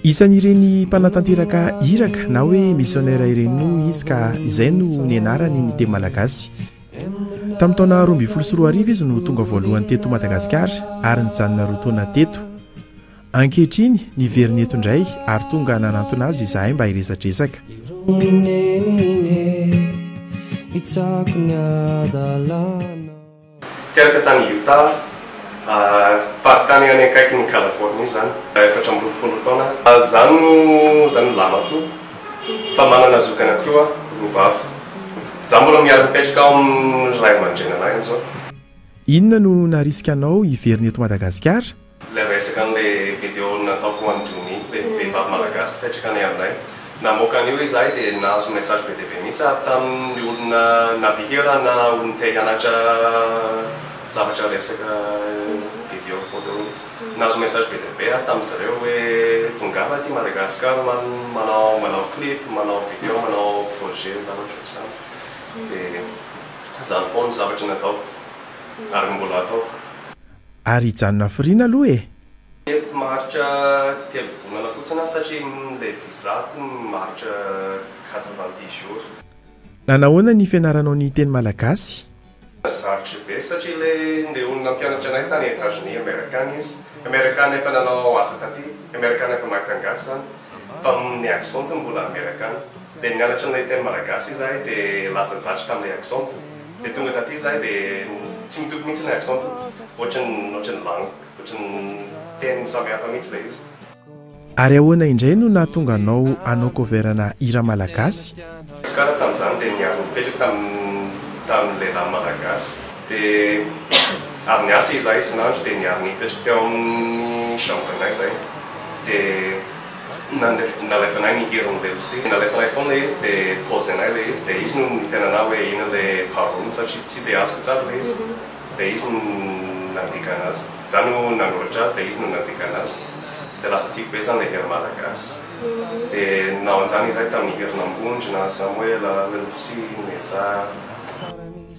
Isan'ireny mpanatanteraka iraka na hoe missionnaire ireny moa izy ka izay no nianarany ny teny malagasy. Tamin'ny taona roa ambin'ny folo sy roa arivo izy no tonga voalohany teto Madagasikara ary nijanona roa taona teto. Ankehitriny, niverina eto indray ary tonga nanantona azy izahay mba hiresadresaka. Teraka tany Utah, faritany any akaikin'i Californie izany, efatra amby roapolo taona aho. Izany no izany no lamatoa fa manana zoky anankiroa aho, roa vavy. Izaho mbola miaro mipetraka ao amin'ny ray aman-drenin'ahy amin'izao. Inona no naharisika anao hiverina eto Madagasikara? Ilay resaka an'ilay video nataoko ho an'i Dony, ilay vehivavy malagasy mpipetraka any aminay. Namoaka an'io izahay dia nahazo message be dia be mihitsy ary tamin'ny olona na mpihira na olona te hianatra zavatra resaka video photo iny. Nahazo message be dia be aho tamin'izy ireo hoe tongava aty Madagascar man, manao manao clip, manao video, manao projet zavatra ohatr'izany. Dia izany foana ny zavatra nataoko ary mbola ataoko. Ary hijanona hafiriana aloha e! Mety maharitra telo volana fotsiny aho satria ilay visa-ko maharitra quatre-vingt-dix jours. Nanahoana ny fianaranao ny teny malagasy? Sarotra be satria ilay ndeha olona hampianatra anay tany Etats-Unis amerikana izy, amerikana efa nanao asa taty, amerikana efa mahay teny gasy izany fa ny accent-ny mbola amerikana. Dia nianatra an'ilay teny malagasy izahay dia lasa zatra tamin'ilay accent. Dia tonga taty izahay dia tsy mitoky mihitsy ilay accent. Ohatran'ny, ohatran'ny langue, ohatran'ny teny samy hafa mihitsy ilay izy. Ary ahoana indray no nahatonga anao hanao cover ana hira malagasy? Izy koa ary tamin'izany dia niaraka nipetraka tamin'ny, tamin'ny lehilahy malagasy. Dia avy niasa izahay isan'andro dia niaraka nipetraka teo amin'ny chambre-nay izahay. Dia Nalefanay ny hira Omby Elsie, nalefanay foana izy dia posenay ilay izy dia izy no niteny anah hoe ino ilay parole satria tsy dia azoko tsara ilay izy dia izy no nandika anazy, za no nanoratra azy dia izy no nandika anazy dia lasa tiako be zany ilay hira malagasy dia naonjany izahay tamin'ny hirin'Ambondrona, Samoela, Elsie, Nezah.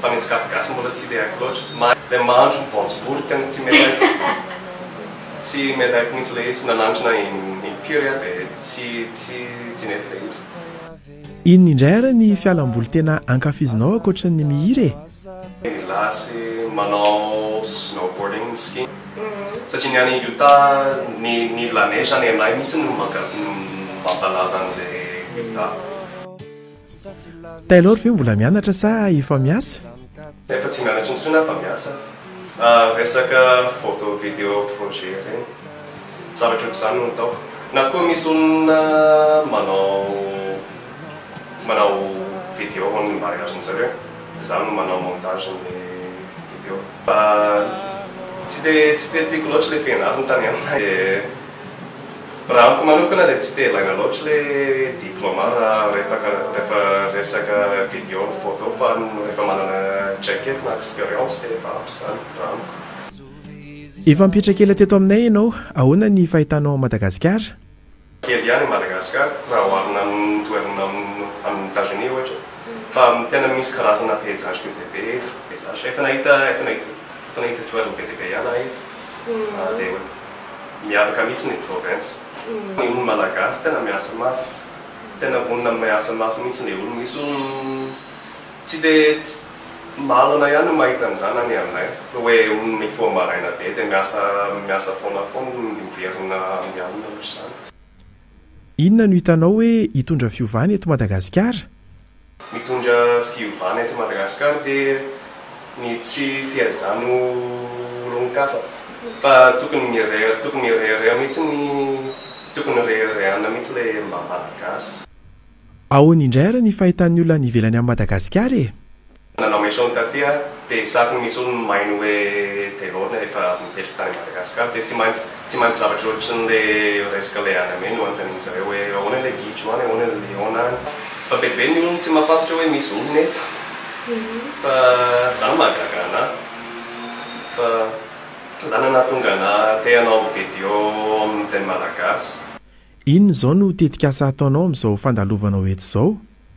fa ny sokafy gasy mbola tsy dia haiko loatra, ma le mahandro ny voanjobory tena tsy melaiko, tsy melaiko mihitsy le izy, nanandrana in impiry aho de tsy tsy tsy nety le izy. Inona indray ary ny fialamboly tena ankafizinao ankoatry ny mihira e? Ny lahy sy manao snowboarding ny ski satria ny any Utah ny ny la neige any anay mihitsy no manka no mampalaza an'le Utah. Taylor ve mbola mianatra sa efa miasa? Efa tsy mianatra intsony aho fa miasa. Resaka photo video projet ireny. Zavatra ohatr'izany no ataoko. Na koa misy olona manao manao video ho an'ny mariazin'ny zareo dia izaho no manao montage ny video. Fa tsy dia tsy dia tiako loatra ilay fianarana tany an. Raha amiko manokana dia tsy te ilaina loatra ilay diploma rehefa resaka video ny photo fa rehefa manana jacket na expérience dia efa ampy izany raha amiko. Efa mipetraka ela teto aminay ianao, ahoana ny fahitanao an'i Madagasikara? Kely ihany i Madagasikara raha oharina amin'ny toerana amin'i Etazonia ohatra fa tena misy karazana paysage be dia be eto, paysage efa nahita efa nahita toerana be dia be ihany aho eto dia. Miavaka mihitsy ny province. Ny olo malagasy tena miasa mafy. Tena vonona am miasa mafy mihitsy le olo. Misy olo tsy de malona ihany no mahita an'izany any anay. Hoe olo mifoha maraina be de miasa miasa foana foana no miverina amin'ny alina ohatr'izany. Inona no hitanao hoe hitondra fiovana eto Madagasikara? Mitondra fiovana eto Madagasikara de ny tsy fihazana ho olon-kafa fa tokony mireha tokony hirehareha mihitsy ny tokony reharehana mihitsy le mba Malagasy. Ahoana indray ary ny fahitan'ny olona any ivelany an'i Madagasikara e? Nanao mission taty aho de saky misy olo maino hoe Delors rehefa avy mipetraka tany Madagascar de tsy maintsy Tsy mahay zavatra ohatrin le resaka le any ame no antanin zareo hoe ahoana le gidro any ahoana le liona any fa be be ny olona tsy mahafantatra hoe misy olona eto fa zany mahagaga ana fa zany ana tonga na te hanao video aminy teny malagasy. Inona izao no tetikasa ataonao amin'izao fandalovanao eto izao?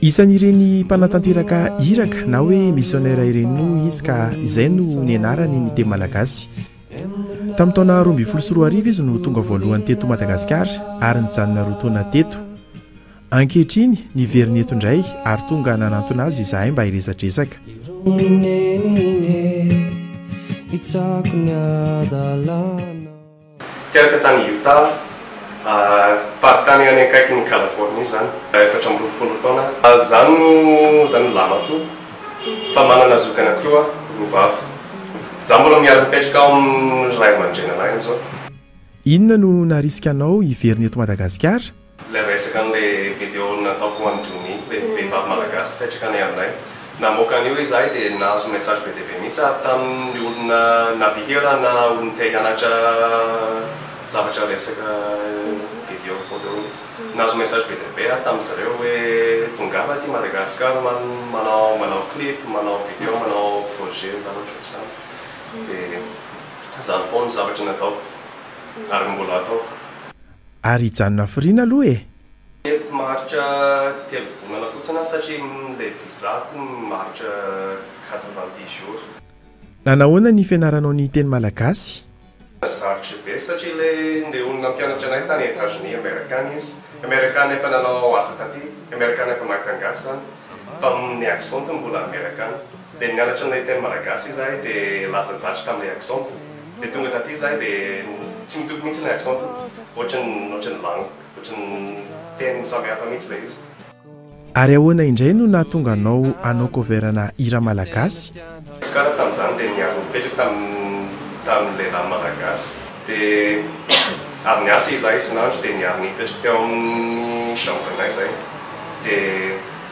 Isan'ireny mpanatanteraka iraka na hoe misionera ireny moa izy ka izay no nianarany ny teny malagasy. Tamin'ny taona roa ambin'ny folo sy roa arivo izy no tonga voalohany teto Madagasikara ary nijanona roa taona teto. Ankehitriny, niverina eto indray ary tonga nanantona azy izahay mba hiresadresaka. Teraka tany Utah, faritany any akaikin'i Californie izany, efatra amby roapolo taona aho. Za no za no lahimatoa fa manana zoky anankiroa aho, roa vavy. Za mbola miara-mipetraka ao amin'ny ray aman-drenanay amin'izao. Inona no naharisika anao hiverina eto Madagasikara? Ilay resaka an'ilay video nataoko ho an'i Dony, ilay vehivavy malagasy mpipetraka any aminay. Namoaka an'io izahay dia nahazo message be dia be mihitsy ary tamin'ny olona na mpihira na olona te hianatra zavatra resaka video photo iny. Nahazo message be dia be aho tamin'izy ireo hoe tongava aty Madagascar man manao manao clip, manao video, manao projet zavatra ohatr'izany. Dia izany foana ny zavatra nataoko ary mbola ataoko. Ary hijanona hafiriana aloha e! Mety maharitra telo volana fotsiny aho satria ilay visa-ko maharitra quatre vingt dix jours. Nanahoana ny fianaranao ny teny malagasy? Sarotra be satria ilay ndeha olona hampianatra anay tany Etazonia amerikana izy, amerikana efa nanao asa taty, amerikana efa mahay teny gasy izany fa ny accent-ny mbola amerikana. Dia nianatra an'ilay teny malagasy izahay dia lasa zatra tamin'ilay accent. Dia tonga taty izahay dia tsy mitoky mihitsy ilay accent tompoko. Ohatran'ny, ohatran'ny langue, ohatran'ny teny samy hafa mihitsy ilay izy. Ary ahoana indray no nahatonga anao hanao cover ana hira malagasy? Izy koa ary tamin'izany dia niaraka nipetraka tamin'ny, tamin'ny lehilahy malagasy. Dia avy niasa izahay isan'andro dia niaraka nipetraka teo amin'ny chambre-nay izahay. Dia.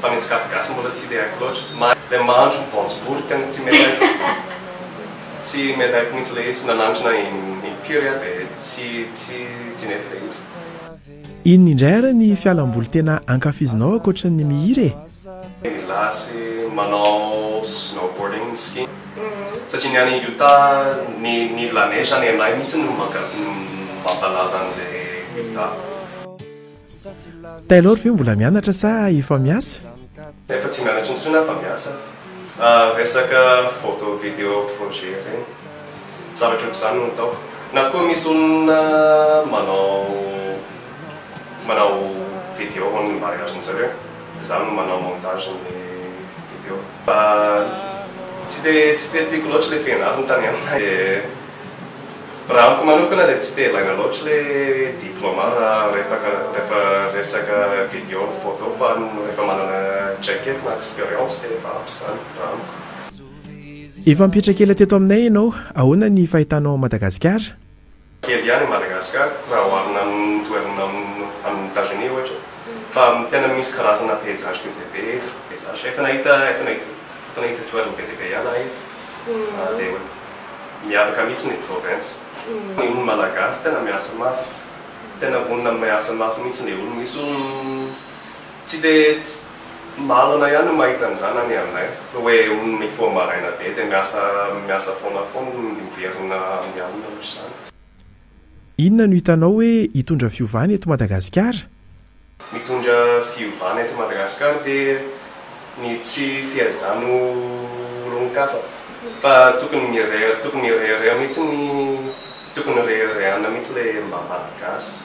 Fa ny sakafo gasy mbola tsy dia haiko loatra. Ilay mahandro voanjobory tena tsy mety amiko. Tsy mety amiko mihitsy ilay izy. Na nahandro na in pure aho dia tsy tsy tsy nety ilay izy. Inona indray ary ny fialamboly tena ankafizinao ankoatry ny mihira e? Milasy, manao snowboarding, ski. Satria ny any Utah ny ny la neige any anay mihitsy no mampalaza an'ilay Utah. Taylor ve mbola mianatra sa efa miasa? Efa tsy mianatra intsony aho fa miasa. Resaka photo video projet ireny. Zavatra ohatr'izany no ataoko. Na koa misy olona manao manao video ho an'ny mariazin'ny zareo dia izaho no manao montage ny video. Fa tsy dia tsy dia tiako loatra ilay fianarana tany an. Raha amiko manokana dia tsy te ilaina loatra ilay diploma raha rehefa resaka video ny photo fa rehefa manana traikefa na expérience dia efa ampy izany raha amiko. Efa mipetraka ela teto aminay ianao, ahoana ny fahitanao an'i Madagasikara? Kely ihany i Madagasikara raha oharina amin'ny toerana amin'i Etazonia ohatra fa tena misy karazana paysage be dia be eto, paysage efa nahita efa nahita toerana be dia be ihany aho eto dia. Miavaka mihitsy ny province. Ny olo malagasy tena miasa mafy. Tena vonona am miasa mafy mihitsy le olo. Misy olo tsy de malona ihany no mahita an'izany any aminay. Hoe olo mifoha maraina be de miasa miasa foana foana, miverina amin'ny alina ohatr'izany. Inona no hitanao hoe hitondra fiovana eto Madagasikara? Mitondra fiovana eto Madagasikara dia ny tsy fihazana ho olon-kafa fa tokony mirehareha tokony hirehareha mihitsy ny tokony reharehana mihitsy ilay maha Malagasy.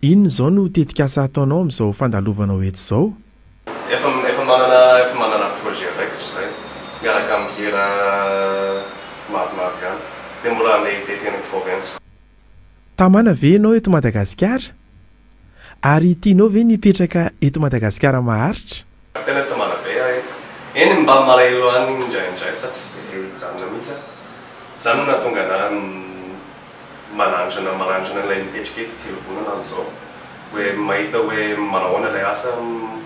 Inona izao no tetikasa ataonao amin'izao fandalovanao eto izao? Efa efa manana efa manana projet raikitra izay miaraka amin'ny hira maromaro ihany dia mbola handeha hitety any province. Tamana ve ianao eto Madagasikara? Ary tianao ve ny hipetraka eto Madagasikara maharitra? Tena mitomana be aho eto. Eny mba malahelo any indraindray fa tsy dia mijanona mihitsy aho. Izany no nahatonga anah manandrana manandrana ilay mipetraka eto telo volana amin'izao. Hoe mahita hoe manahoana ilay asa.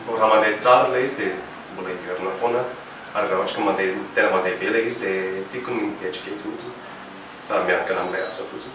Raha mandeha tsara ilay izy dia mbola hiverina foana aho. Ary raha ohatra ka mandeha tena mandeha be ilay izy dia tiako ny mipetraka eto mihitsy fa miankina amin'ilay asa fotsiny.